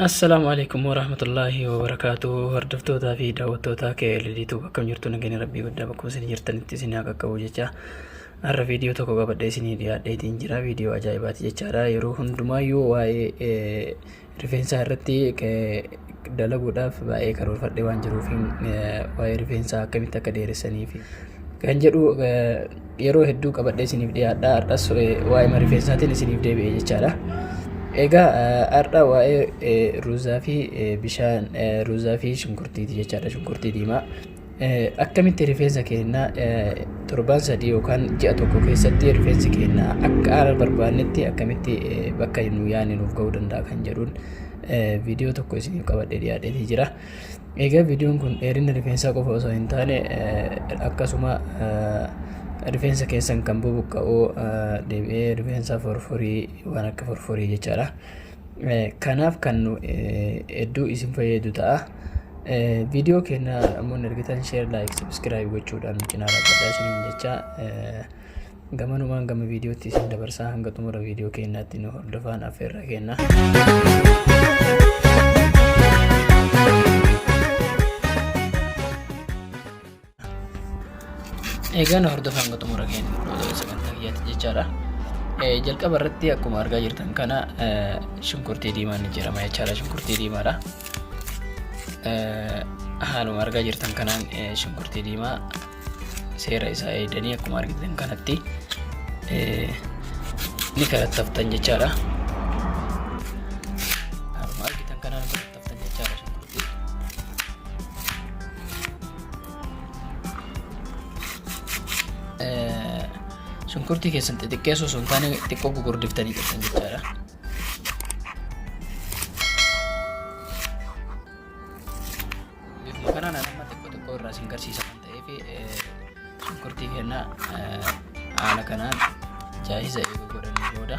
Assalaamu alaikum warahmatullaahi wabarakaatuh hordoftootaa fi daawwattootaa KLDtu akkam jirtu nageenya rabbii guddaa bakkuma isin jirtanitti isin haa qaqqabu jecha har'a viidiyoo tokko qabadhee isinii dhiyaadheetiin jira viidiyoo ajaa'ibaati jechaadha yeroo hundumaayyuu waa'ee eh, rifeensaa irratti eh, dalaguudhaaf baay'ee karoorfadhee waan jiruuf waa'ee rifeensaa akkamitti akka dheeressanii fi kan jedhu yeroo hedduu qabadhee isiniif dhiyaadha. Har'as waa'ee rifeensaatiin isiniif deebi'e jechaadha. Egaa har'a waa'ee ruuzaa fi bishaan ruuzaa fi shunkurtiiti jechaadha. Shunkurtii diimaa. Akkamitti rifeensa keenya torban sadii yookaan ji'a tokko keessatti rifeensi keenya akka haala barbaannetti akkamitti bakka nu yaadne nuuf ga'uu danda'a kan jedhuun viidiyoo tokko isiniif qabadhee dhiyaadhee jira. Egaa viidiyoon kun dheerina rifeensaa qofa osoo hin taane akkasuma rifeensa keessan kan bubuqqa'u deebi'ee rifeensa forforii waan akka forforii jechaadha. Kanaaf kan nu hedduu isin fayyadu ta'a. Viidiyoo keenya ammoo ergitan sheer laayik sabiskiraayib gochuudhaan cinaa dhaabbataa isiniin jechaa gamanumaan gama viidiyootti isin dabarsaa hanga xumura viidiyoo keenyaatti nu hordofaan affeerraa kenna. Egaa na hordofaa hanga xumura keenya sagantaa kiyyaatti jechaadha. Jalqaba irratti akkuma argaa jirtan kana shunkurtii diimaan ni jirama jechaadha. Shunkurtii diimaadha. Haaluma argaa jirtan kanaan shunkurtii diimaa seera isaa eegdanii akkuma argitan kanatti ni kalattaftan jechaadha. Kan jechaa dha shunkurtii. Shunkurtii keessan xixiqqeessuu osoo hin taane xiqqoo gugurdiftanii jirtan jechaa dha. Bifuma kanaan amma xiqqoo xiqqoo irraa isin garsiisa kan ta'eef shunkurtii kennaa haala kanaan jaahiza eeguu godhanii booda.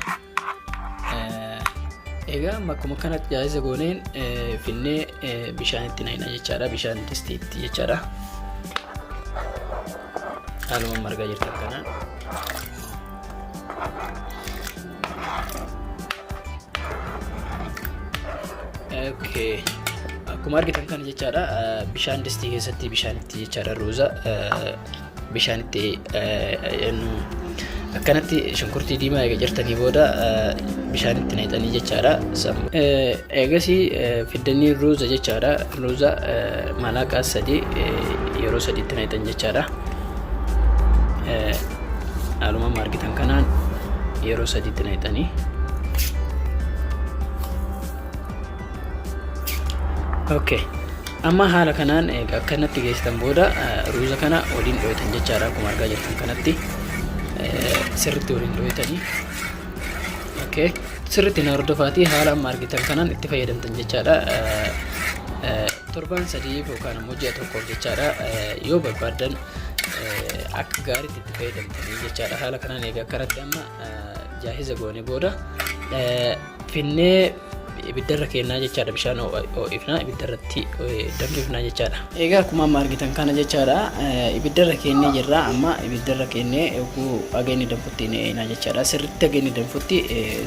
Egaa amma akkuma kanatti jaayisa gooneen finnee bishaanitti naqna jechaadha. Bishaan distiitti jechaadha. Haaluma margaa jirtu akkanaan. Okay. Akkuma argitan kana jechaadha bishaan distii keessatti bishaanitti jechaadha ruuza bishaan itti eenyu akkanatti shunkurtii diimaa eega jirtanii booda bishaan itti naqxanii jechaadha. Eegasii fiddanii ruuza jechaadha. Ruuza malaaqaa sadii yeroo sadiitti naqxan jechaadha. Haaluma argitan kanaan yeroo sadiitti naqxanii. Okay. Amma haala kanaan egaa akka kanatti geessitan booda eh, ruuza kana waliin dhooytan jechaadha akkuma argaa jirtan kanatti eh, sirriitti waliin dhooytanii. Okay. Sirriitti na hordofaatii haala amma argitan kanaan itti fayyadamtan jechaadha. Eh, eh, Torban sadiif yookaan immoo ji'a tokkoof jechaadha eh, yoo barbaadan eh, akka gaariitti itti fayyadamtanii jechaadha. Haala kanaan egaa akkanatti amma eh, jaahiza goone booda eh, finnee ibiddarra keennaa jechaadha bishaan ho'ifnaa ibiddarratti danfifnaa jechaadha. Egaa akkuma amma argitan kana jechaadha ibiddarra keennee jirra amma ibiddarra keennee oguu ageenni danfutti ni eeynaa jechaadha sirritti ageenni danfutti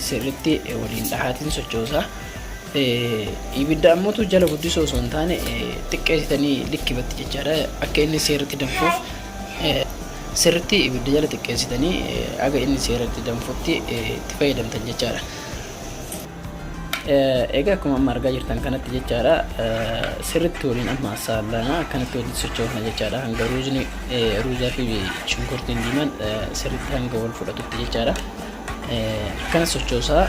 sirritti waliin dhahaatiin sochoosa. Ibidda ammatu jala guddisoo osoo hin taane xiqqeessitanii likkibatti jechaadha akka inni seerritti danfuuf Sirritti ibidda jala xiqqeessitanii haga inni seeratti danfutti itti fayyadamtan jechaadha. Egaa akkuma amma argaa jirtan kanatti jechaadha sirritti waliin amma saallanaa akkanatti waliin sochoofna jechaadha hanga ruuzni ruuzaa fi shunkurtiin diimaan sirritti hanga wal fudhatutti jechaadha. Akkana sochoosaa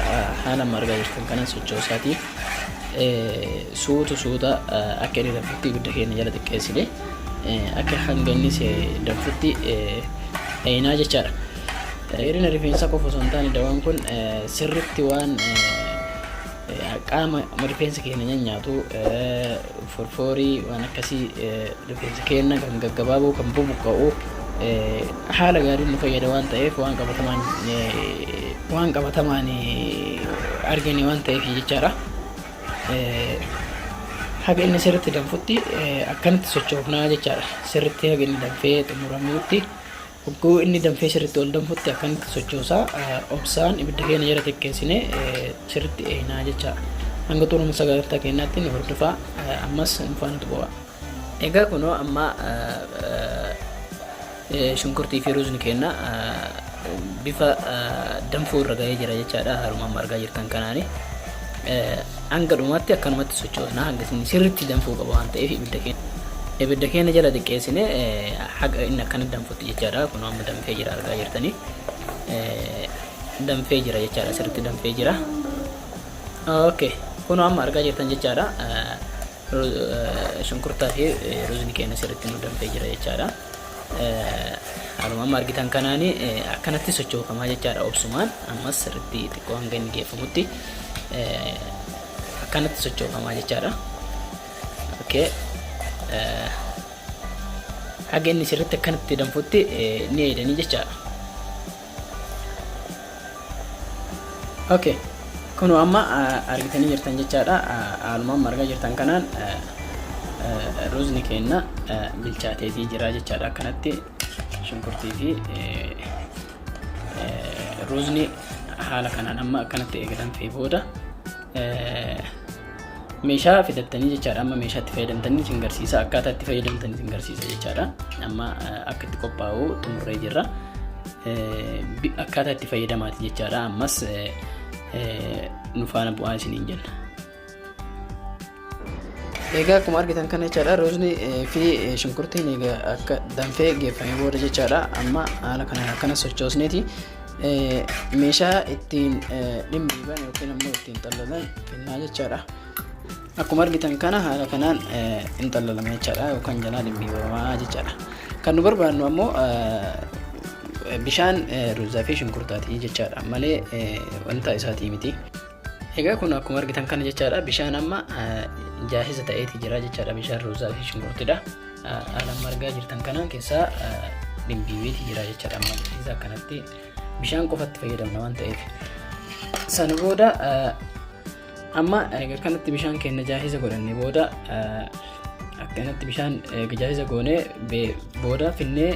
haala amma argaa jirtan kana sochoosaati suutu suuta akka inni danfutti ibidda keenya jala xiqqeessine. Akka hanga inni danfutti dhayinaa jechaadha. Dheerina rifeensaa qofa osoo hin taane dawaan kun sirritti waan qaama rifeensa keenya nyanyaatu forfoorii waan akkasii rifeensa keenya kan gaggabaaboo kan bubuqqa'u haala gaariin nu fayyada waan ta'eef waan qabatamaan waan qabatamaan argine waan ta'eef jechaadha. haga inni sirritti danfutti akkanatti sochoofnaa jechaadha. Sirritti haga inni danfee xumuramuutti hogguu inni danfee sirritti ol danfutti akkanatti sochoosaa obsaan ibidda keenya jala xiqqeessine sirritti eeynaa jechaadha. Hanga xumurama sagantaa keenyaatti nu hordofaa ammas nu faana tuqaa. Egaa kunoo amma shunkurtii fi ruuzni keenna bifa danfuu irra ga'ee jira jechaadha haruma amma argaa jirtan kanaani. Hanga dhumaatti akkanumatti sochoosna hanga isin sirriitti danfuu qaba waan ta'eef ibidda keenya. Ibidda keenya jala xiqqeessine haga inni akkana danfutti jechaadha kunoo amma danfee jira argaa jirtanii. Danfee jira jechaadha sirriitti danfee jira. Okay. Kunoo amma argaa jirtan jechaadha. Shunkurtaa fi ruuzni keenya sirriitti nu danfee jira jechaadha. Haaluma amma argitan kanaan akkanatti sochoofamaa jechaadha obsumaan ammas sirriitti xiqqoo hanga inni geeffamutti akkanatti sochoofamaa jechaadha. Okay. Haga inni sirriitti akkanatti danfutti ni eedanii jechaadha. ok kunoo amma argitanii jirtan jechaadha haaluma amma argaa jirtan kanaan ruuzni keenna bilchaateetii jira jechaadha akkanatti shunkurtii fi ruuzni haala kanaan amma akkanatti eegalamfee booda meeshaa fidattanii jechaadha amma meeshaa itti fayyadamtanii isin garsiisa akkaataa itti fayyadamtan isin garsiisa jechaadha amma akka itti qophaa'u xumurree jirra akkaataa itti fayyadamaati jechaadha ammas nu faana bu'aa isiniin jenna. Egaa akkuma argitan kana jechaadha ruuzni fi shunkurtiin egaa akka danfee geeffamee booda jechaadha amma haala kanaan akkana sochoosneeti meeshaa ittiin dhimbiiban yookiin immoo ittiin xallalan kennaa jechaadha. Akkuma argitan kana haala kanaan hin xallalama jechaadha yookaan jalaa dhimbiibamaa jechaadha. Kan nu barbaannu ammoo bishaan ruuzaa fi shunkurtaati jechaadha malee wanta isaatii miti. Egaa kun akkuma argitan kana jechaadha bishaan amma jaahisa ta'eeti jira jechaadha bishaan ruuzaa fi shunkurtidha. Haala amma argaa jirtan kanaan keessaa dhimbiibeeti jira jechaadha amma isa akkanatti bishaan qofatti fayyadamna waan ta'eef. Sana booda amma erga kanatti bishaan keenya jaahisa godhanne booda Akkanatti bishaan gajaajila goonee booda finnee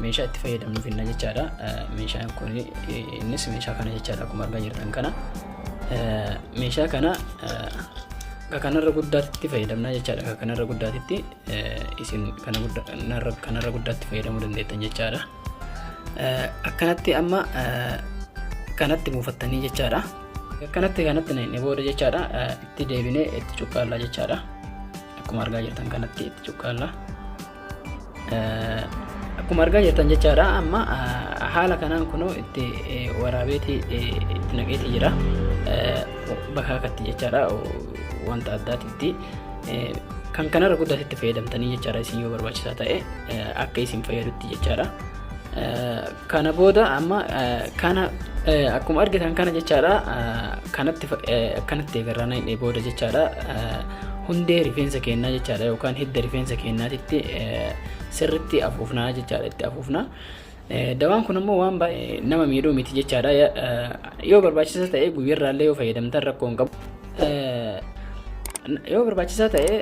meeshaa itti fayyadamnu finna jechaadha. Meeshaan kun innis meeshaa kana jechaadha akkuma argaa jirtan kana. Meeshaa kana akka kanarra guddaatti fayyadamna jechaadha. Akka kanarra guddaatti isin kanarra guddaatti fayyadamuu dandeettan jechaadha. Akkanatti amma kanatti buufattanii jechaadha. Akkanatti kanatti booda jechaadha. itti deebinee itti cuqqaallaa jechaadha akkuma argaa jirtan kanatti itti cuqqaallaa akkuma argaa jirtan jechaadha amma haala kanaan kunoo itti waraabeeti itti naqeeti jira bakka akkatti jechaadha wanta addaatitti kan kanarra guddaatti itti fayyadamtanii jechaadha isin yoo barbaachisaa ta'e akka isin fayyadutti jechaadha Kana booda amma kana akkuma argitan kana jechaadha kanatti akkanatti eegarraa naqnee booda jechaadha hundee rifeensa keenyaa jechaadha yookaan hidda rifeensa keenyaatitti sirritti afuufnaa jechaadha itti afuufnaa. Dawaan kun immoo waan baay'ee nama miidhuu miti jechaadha yoo barbaachisa ta'e guyyarraallee yoo fayyadamtan rakkoo hin qabu. Yoo barbaachisaa ta'e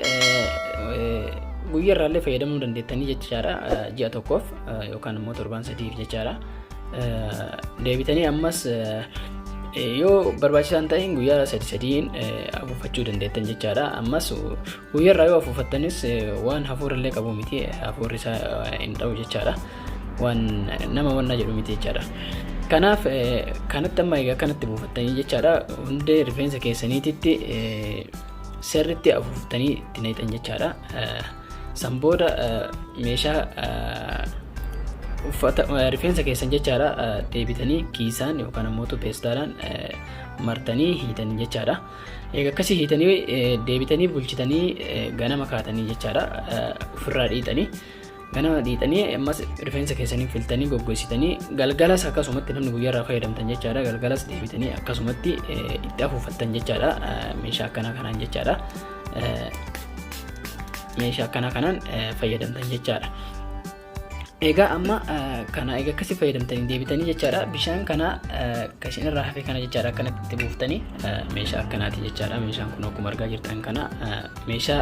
guyyaa irraallee fayyadamuu dandeettanii jechaadha ji'a tokkoof yookaan immoo torbaan sadiif jechaadha. Deebitanii ammas yoo barbaachisaa hin ta'in guyyaa sadi sadiin afuuffachuu dandeettan jechaadha. Ammas Guyyarraa yoo afuufattanis waan hafuurallee qabu miti hafuurri isaa hin dha'u jechaadha. Waan nama wanna jedhu miti jechaadha. Kanaaf kanatti amma egaa kanatti buufattanii jechaadha hundee rifeensa keessaniititti sirriitti afuuftanii itti naqxan jechaadha. San booda meeshaa uffata rifeensa keessan jechaadha deebitanii kiisaan yookaan ammoo peestaalaan martanii hiitan jechaadha. Egaa akkasii hiitanii deebitanii bulchitanii ganama kaatanii jechaadha ofirraa dhiitanii ganama dhiitanii ammas rifeensa keessanii filtanii goggogsitanii galgalas akkasumatti namni guyyaarraa fayyadamtan jechaadha galgalas deebitanii akkasumatti itti afuufattan jechaadha meeshaa akkanaa kanaan jechaadha meeshaa akkanaa kanaan fayyadamtan jechaadha. Egaa amma kana egaa akkasii fayyadamtanii deebitanii jechaadha. Bishaan kana kan isin irraa hafe kana jechaadha akkanatti itti buuftanii meeshaa akkanaati jechaadha. Meeshaan kun akkuma argaa jirtan kana meeshaa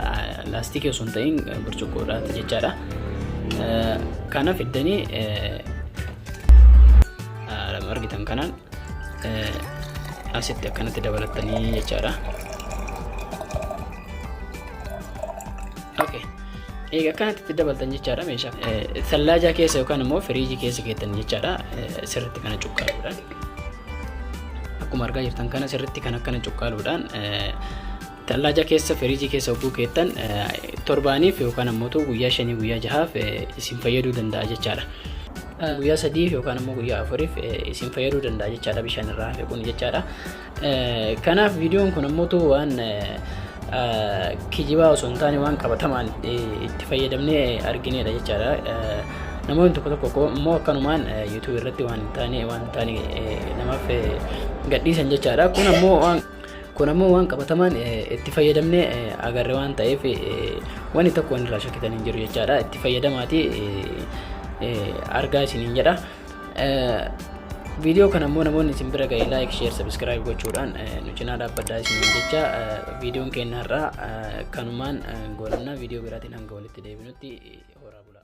laastikii osoo hin ta'in burcuqqoodhaati jechaadha. Kanaaf iddanii argitan kanaan asitti akkanatti dabalatanii jechaadha. Egaa akkanatti itti dabaltan jechaadha meeshaa. Sallaajaa keessa yookaan immoo firiijii keessa keettan jechaadha sirriitti kana cuqqaaluudhaan. Akkuma argaa jirtan kana sirriitti kan akkana cuqqaaluudhaan sallaajaa keessa firiijii keessa hogguu keettan torbaaniif yookaan ammoo guyyaa shanii guyyaa jahaaf isin fayyaduu danda'a jechaadha. Guyyaa sadiif yookaan ammoo guyyaa afuriif isin fayyaduu danda'a jechaadha bishaan irraa hafe kun jechaadha. Kanaaf viidiyoon kun ammoo waan kijibaa osoo hin taane waan qabatamaan itti fayyadamnee argineedha jechaadha. Namoonni tokko tokko immoo akkanumaan yuutuubii irratti waan hin taane waan hin taane namaaf gadhiisan jechaadha. Kun ammoo waan kun ammoo waan qabatamaan itti fayyadamnee agarre waan ta'eef wanni tokko wanni irraa shakkitan hin jiru jechaadha. Itti fayyadamaati argaa isiniin jedha. Viidiyoo kana immoo namoonni isin bira ga'e laayik sheer sabiskiraayib gochuudhaan nu cinaa dhaabbadhaa isiniin jecha viidiyoon keenya har'aa kanumaan goolabna viidiyoo biraatiin hanga walitti deebinutti horaa bulaa.